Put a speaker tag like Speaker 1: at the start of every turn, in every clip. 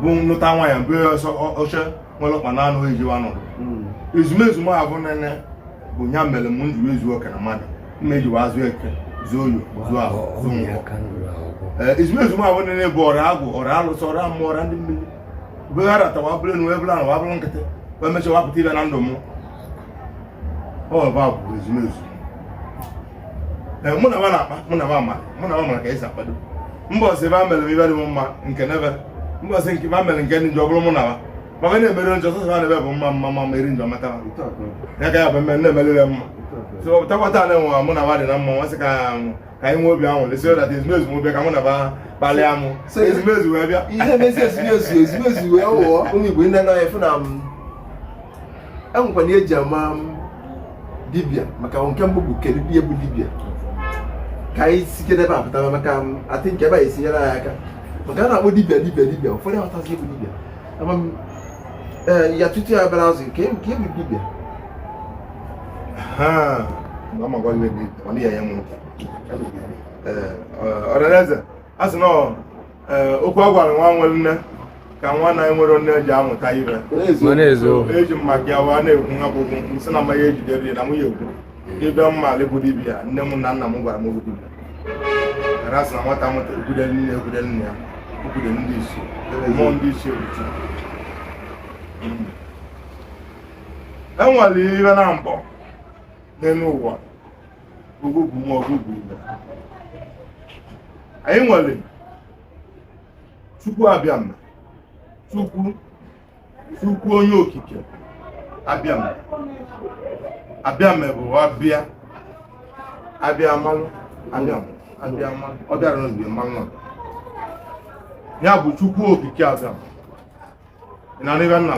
Speaker 1: bụ nlụta nwa ya mbe ọsọ oche nwere ọkpa anọ ejiwa anọdụ hmm. ezumezu m abụ nene bụ ya mere m njiri ezu oke na mmadụ mma ejiwa azụ eke zuo oye zuo ahọ zuo nkwọ eh, ezumezu m abụ nene bụ ọra agwụ ọra alụsị ọra mmụọ ọra ndị mmiri bụghara tawa bụrụ enu ebụla na wabụrụ nkịtị wee mechaa wapụta ibe na ndụ m ọ bụ ezumezu eh, mụ na nwa na-akpa mụ na nwa mara mụ na nwa mara ka esi akpado mbọsị ebe a mere ibe dị mma nke nebe mbọsị nke ma mere nke ndị njọ bụrụ mụ na nwa maka na-emere njọ sọsọ ha na-ebe bụ mma mma mma meri njọ mata ya ka ya bụ mme na-emerere mma so takwata na enwe mụ na nwa dị na mma nwa sị ka ka anyị nwee obi ahụ lesi ọda ezumezu m bịa ka mụ na ba kpalịa mụ ezumezu wee bịa ihe na-esi ezumezu
Speaker 2: ezumezu wee wụọ ụmụ Igbo ndị anaghị efu na enwekwana ihe eji ama dibịa maka nke mbụ bụ kedu ihe bụ dibịa ka anyị site n'ebe a pụtara maka atị nke ebe a esinyere anyị aka maka a na-akpọ dibịa dibịa dibịa ụfọdụ aghọtazi bụ dibịa ya tutu ya bịara azụ nke nke bụ dibịa
Speaker 1: ọra eze a sị na ee okwu a gwara nwa nwere nne ka nwa na-enwerọ nne ji amụta ihe ma na-ezo eji m maka ya wa na-ekwu nwa bụ okwu nsị na mmanya ejidere ya na nwunye ekwu ịbịa mma alị bụ dibịa nne m na nna m gwara m okwu dibịa ara sị na nwata mụta ekwude nne ekwude nne ya okwude ndị isi mmụọ ndị isi ebuchi enwere iwe na mbọ n'elu ụwa ugwu bụ nwa ọgụ bụ ibe anyị nwere chukwu abịama chukwu chukwu onye okike abịama abịama bụ abịa abịa amalụ abịama abịa amalụ ọ bịara n'oge mmanwụ a. ya bụ chukwu okike abịama ị na-anụ ibe nna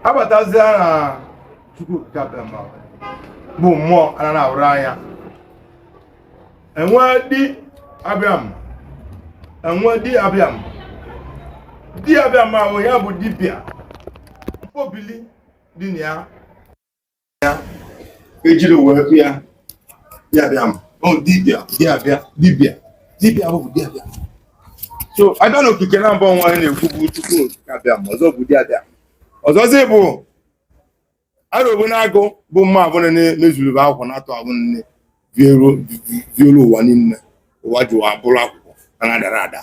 Speaker 1: abatazie na chukwu okike abịama bụ mmụọ ana na-ahụrọ anya enwee di abịama enwee di abịama di abịama ahụ ya bụ dibịa mkpọbili dị na ya ya ejiri wee kpọ ya di abịam ọ dibịa di abịa dibịa dibịa bụ di abịam so abịa n'okike na mbụ wa na-ekwu bụ chukwu okike abịama ọzọ bụ di abịa ọzọzi bụ arọbụ na agụ bụ mma abụrụ na-emezuru akwụkwọ na-atụ abụ nne violu ụwa niile ụwa ji ụwa bụrụ akwụkwọ a na-adara ada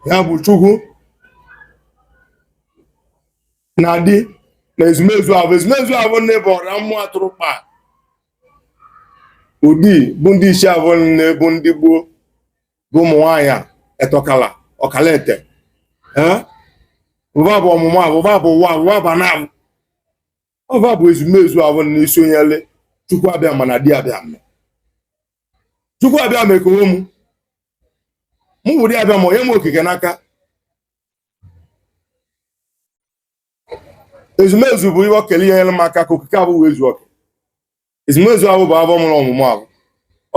Speaker 1: ya bụ chukwu na di na ezumezu abụ ezumezu abụ nne bụ ọra mmụọ atụrụ kpa ụdị bụ ndị isi abụ nne bụ ndị Igbo bụ ụmụ nwaanyị a etọkala ọkala ete ee ọ va bụ ọmụmụ ahụ ọ va bụ ụwa ahụ ọ va bụ ana ahụ ọ va bụ ezumezu ahụ na isi o nyele chukwu abịama na di abịama chukwu abịama ekee onwe mụ mụ bụ di abịama o nye m okike n'aka ezumezu bụ ihe okele ihe nyere m aka ka okike ahụ wee zuo oke ezumezu ahụ bụ avọ mụrụ ọmụmụ ahụ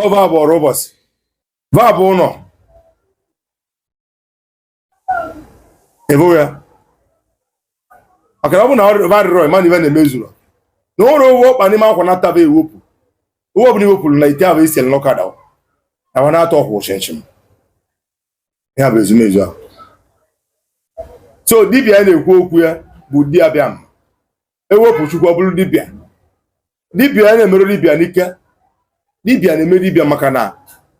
Speaker 1: ọ va bụ ọrụ ụbọchị va bụ ụlọ evoya maka na ọ bụ na va arịrọ ị ma na ive na-emezuru na ụlọ owu ọkpa n'ime akwa na-ataba ewepụ owu ọbụla i wepụrụ na ite ahụ isi n'ọkada na wa na-atọ ọkwụ chinchin ya bụ ezumezu ahụ so dibia na-ekwu okwu ya bụ di abịama ewepụ chukwu ọ bụrụ dibịa dibịa ya na-emerụ dibịa n'ike dibịa na-eme dibịa maka na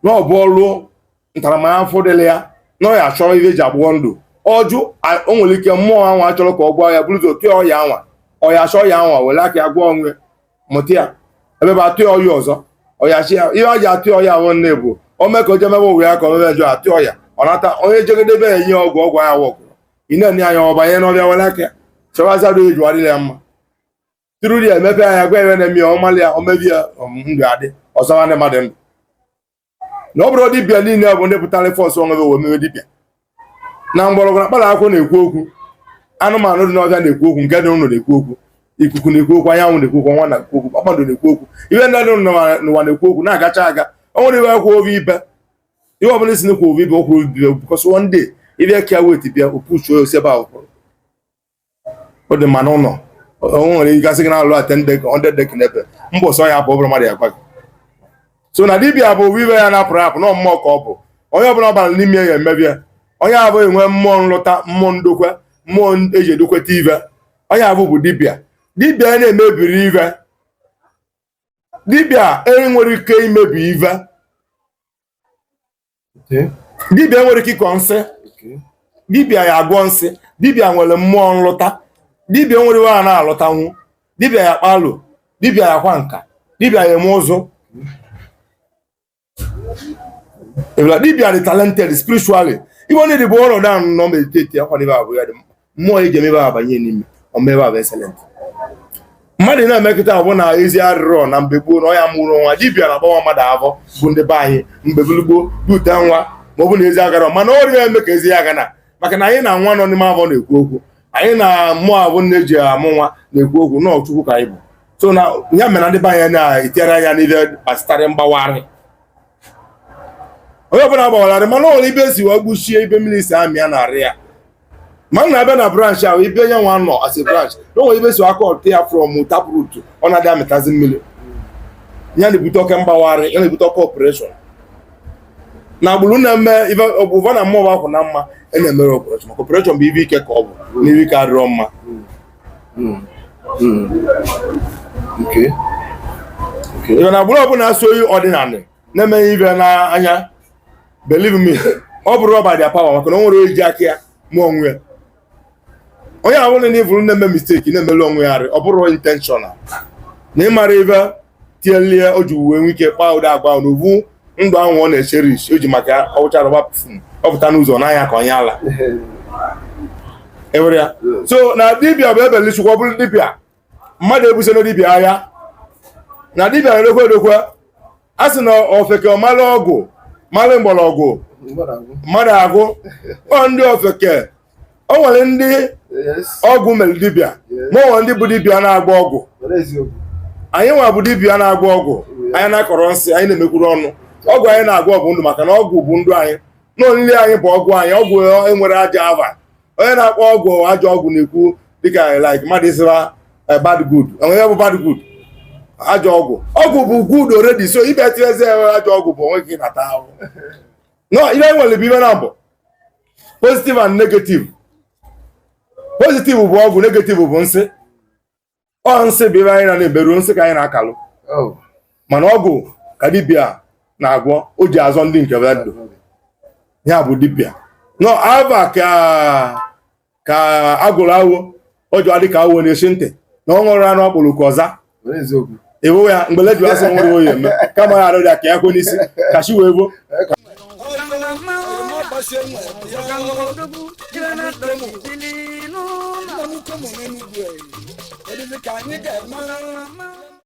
Speaker 1: na ọ bụ ọrụ ntaramahụhụ dịrị ya na ọ ya achọrọ ihe eji agwọ ndụ ọjụ o nwere ike mmụọ anwa achọrọ ka ọ gwọ ya bụrụ ụzọ tụọ ọya anwa ọya achọ ọya anwa were aka ya gwọ onwe mụta ya ebe bụ atụ ọya ọzọ ọya chi ya ihe ọ ji atụ ọya ahụ nne bụ o mee ka o jemebe ụwa ya ka o mebe njọ atụ ọya ọ nata onye jegedebe ya ihe ọgwụ ọgwụ ya wọkụrụ ị na-enye anya ọ banye n'ọvịa were aka ya chewazi adụ eji adịrị ya mma tụrụ ya emepe anya gwa ive na-eme ya ọ malị ya o mebi ya um, ndụ adị ọzọ nwanne mmadụ ndụ na ọ bụrọ dibịa niile bụ ndị pụtara force onwe wee mewe dibịa na mgbọrọgwụ na mkpara akwụkwọ na-ekwu okwu anụmanụ dị n'ọvịa na-ekwu okwu nke dị n'ụlọ na-ekwu okwu ikuku na-ekwu okwu anyanwụ na-ekwu okwu ọnwa na-ekwu okwu kpakpando na-ekwu okwu ihe ndị dị n'ụwa na-ekwu okwu na-agacha aga o nwere ive kwuo oge ibe ihe ọbụla isi n'ekwu obi bụ okwu obi bụ because one day ị bịa ka wet bịa opuchuo ya osebe ahụ kwụrụ ọ dị mma n'ụlọ o nwere ike a sị gị na-alụ ten deck hundred deck n'ebe mbọ sọ ya bụ ọ bụrụ mmadụ ya gwa gị so na dibia bụ ọ bụ ive a na-apụrụ apụ na mmụọ ka ọ bụ onye ọbụla ọ bara n'ime ya emebi ya onye ahụ enwe mmụọ nlụta mmụọ ndokwe mmụọ eji edokweta ive onye ahụ bụ dibia dibia na-emebiri ive dibịa enwere ike imebi ive dibịa enwere ike ịkọ nsi dibịa ya agwọ nsi dibịa nwere mmụọ nlụta dibịa enwere ive a na-alụtanwu dibịa ya akpa alo dibịa ya akwa nka dibịa ya eme ụzụ ebila dibia dị talented spiritually ive onye dị bụ ọrụ na nọ meditatiakwa n'ive ahụ ya dị mkpa mmụọ eji eme ive abanye n'ime o mee ive ahụ excellent mmadụ na-emekọta abụ na ezi arịrọ na mgbe gboo na ọ ya amụrụ nwa dibia na-agbawa mmadụ avọ bụ ndị be anyị mgbe gboo bute nwa ma ọ bụ na ezi agara mana ọ rịa eme ka ezi ya gana maka na anyị na nwa nọ n'ime avọ na-ekwu okwu anyị na mmụọ ahụ a na-eji amụ nwa na-ekwu okwu na ọ chukwu ka anyị bụ so na ya mere ndị be anyị na-etinyere anya n'ihe gbasịtara mgbawari onye ọbụla gbawara mana o nwere ive si wee gbuchie ibe mmiri si amị ya na arị ya ma m na-abịa na branch ahụ ibe nye nwa nọ as a branch na o nwere ive si aka ọtụ ya from taproot ọ na-adị amịtazi mmiri ya na-ebute oke mgbawari ya na-ebute oke operation na agbụrụ na-eme ụva na mmụọ akwụ na mma e na-emere operation maka operation bụ ive ike ka ọ bụ na ive ike adịrọ mma hmm. Hmm. ive na agbụrụ ọbụla so onye ọdịnala na-emeghị ive n'anya believe me ọ bụrọ by their power maka na o nwerọ onye ji aka ya mụ onwe ya onye ahụ na ị vụrụ na-eme mistake na-emelu onwe ya arị ọ bụrọ intentional na ịmara ive tinyelie o ji wee nwee ike kpaa ụdị agwa ahụ na ọ bụ ndụ ahụ ọ na-echerish o ji maka ọ wụcha arụ gbaa perfume ọ pụta n'ụzọ n'anya ka onye ala ewere ya so na dibia bụ ebele chukwu ọ bụrụ dibia mmadụ ebusona dibia agha na dibia na-edokwe edokwe a sị na ofeke malụ ọgwụ malụ mgbọrọgwụ mmadụ agwụ ọ ndị ofeke o nwere ndị ọgwụ mere dibịa ma o nwere ndị bụ dibịa na-agba ọgwụ anyị nwa bụ dibịa na-agba ọgwụ anyị na-akọrọ nsị anyị na-emekwuru ọnụ ọgwụ anyị na-agwọ bụ ndụ maka na ọgwụ bụ ndụ anyị na olili anyị bụ ọgwụ anyị ọgwụ enwerọ ajọ ava onye na-akpọ ọgwụ ajọ ọgwụ na-ekwu dịka like mmadụ ịsị na eh, bad good onwe bụ bad good ajọ ọgwụ ọgwụ bụ good already so ibe tinyezi ajọ ọgwụ bụ onwe gị nata ahụ no ive e nwere bụ ive naabọ positive and negative positive bụ ọgwụ negative bụ nsị ọ nsị bụ ive anyị na na-eberu nsị ka anyị na-akalụ oh. mana ọgwụ ka dibịa na-agwọ o ji azọ ndị nke be ndụ ya bụ dibịa nọ ava ka ka a gụrụ awọ o ji adị ka awọ na-esi ntị na ọ ṅụrụ anụ ọkpụrụ ka ọza ewewe ya mgbe ledu asị nwere oyi eme kama ya arịrịa ka ya kwe n'isi ka chi wee vo Thank
Speaker 3: you.